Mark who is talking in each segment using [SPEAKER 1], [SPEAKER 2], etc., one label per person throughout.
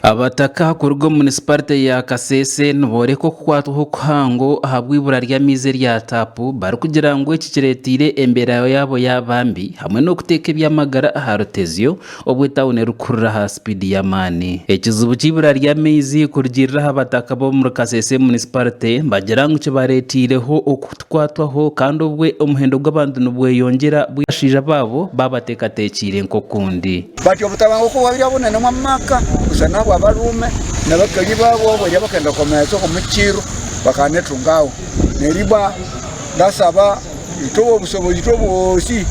[SPEAKER 1] Abataka kuruga omu munisiparite ya Kasese nibooreka okukwatwaho kuhango ahabw'eibura ry'amaizi erya taapu barikugira ngu eki kireeteire embeera yaabo yaaba mbi hamwe n'okuteeka eby'amagara aha rutezyo obu etauni erikukurura aha sipiidi y'amaani. Ekizibu ky'eibura ry'amaizi kurugiirira aha bataka b'omuri Kasese munisiparite nibagira ngu kibareeteireho kukwatwaho kandi obwe omuhendo gw'abantu nibweyongyera bwire abashaija baabo baabateekateekiire nk'okundi. Batyo obutabanguko
[SPEAKER 2] bwabaire bunene omu maka busa n'abwa baruume n'abakali baabo abari abakenda kukomeesa omu kiiru bakanetunga aho. Neriba ndasaba itwe ow'obusobozi, itwe boosi,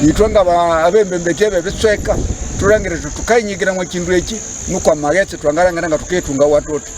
[SPEAKER 2] itwe nk'abembembeki aba ebicweka, turangire tuti tukainyigira omu kintu eki, nukwo amagetsi twangarangira ngu tukeetunga watwo tuti.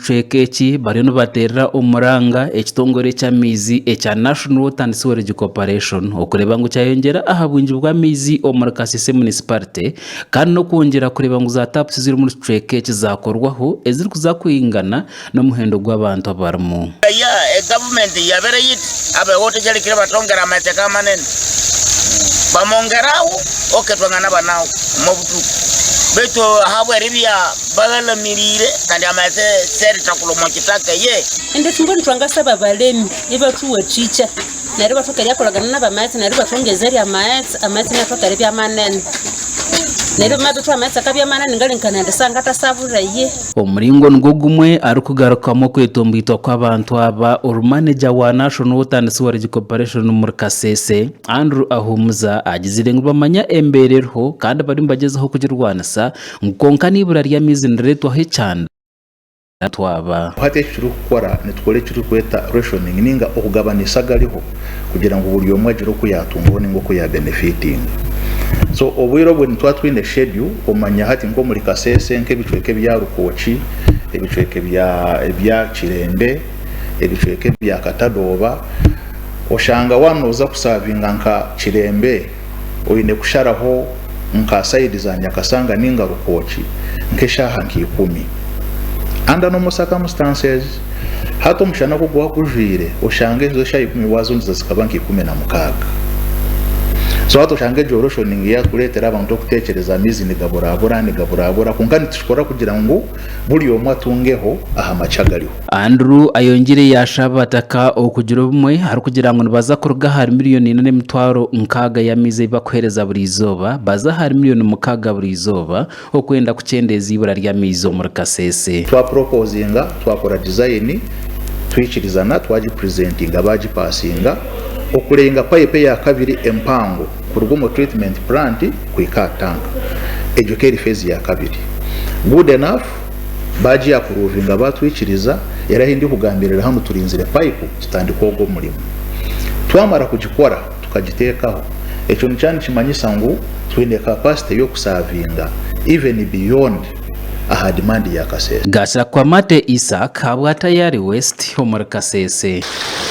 [SPEAKER 1] kicweka eki bariyo nibateerera omuranga ekitongore ky'amaizi ekya National Water and Sewerage Corporation okureeba ngu kyayongyera aha bwingi bw'amaizi omuri Kasese Municipality kandi n'okwongyera kureeba ngu za tapusi ziri omuri kicweka eki zaakorwaho ezirikuza kwingana n'omuhendo gw'abantu abarimu. Kaya egavumenti
[SPEAKER 3] yabaire yiti abeho tegyarikire batongera amateka amanene bamongeraho oketwangana banaho omu butuku baitu ahabwera ebya
[SPEAKER 4] Omuringo nigwo
[SPEAKER 1] gumwe arikugarukamu okwetomboitwa kw'abantu aba oru maneja wa Nation Water and Sewerage Corporation omuri Kasese, Andrew Ahumuza agizire ngu nibamanya embeera eriho kandi bariyo nibagyezaho kugirwanisa. Ngu kwonka n'eibura ry'amaizi nirireetwaho ekyanda ahu twaba. Hati eki turikukora
[SPEAKER 5] nitukora eki turikweta rationing ninga okugabanisa agariho kugira ngu buri omwe agire oku yatungaho ninga oku ya benefitinga. So obwire obwe nitwaba twine schedule omanya hati nk'omuri Kasese nk'ebicweka ebya Rukooki, ebicweka ebya ebya Kirembe, ebicweka ebya Katadooba oshanga waba noza kusavinga nka Kirembe, oine kusharaho nka sayidi za nyakasanga ninga rukooki nk'eshaaha nka ikumi. Under normal circumstances, hati omushana ku guba gujwire oshange ezo eshaaha ikumi wazundiza zikaba nka ikumi na mukaaga. So hati oshange egyo lotion niyo erikureetera abantu okuteekyereza amaizi nigaburabura nigaburabura kwonka nitukikora kugira ngu Buri omwe atungeho aha maki agariho. Andrew ayongyire
[SPEAKER 1] yaashaba abataka okugira obumwe arikugira ngu nibaza kuruga ahari miriyoni ina n'emitwaro nkaaga y'amaizi ei bakuheereza buri izooba baze ahari miriyoni mukaaga buri izooba okwenda kukyendeeza eibura ry'amaizi omuri Kasese. Twapuropozinga,
[SPEAKER 5] twakora dizayini, twikirizana, twagipurezentinga, baagipasinga, okurenga payipu eya kabiri empango kuruga omu treatment plant kuhika aha tank egyo keri phase ya kabiri good enough bagi approvinga batwikiriza era ahi ndi kugambirira hanu turinzire pipe kitandike ogwo murimo twamara kugikora tukagitekaho ekyo nikya nikimanyisa ngu twine capacity y'okusavinga even beyond aha demand ya kasese.
[SPEAKER 1] Gashakwamate Isaac habwa Tayari West omuri
[SPEAKER 5] Kasese.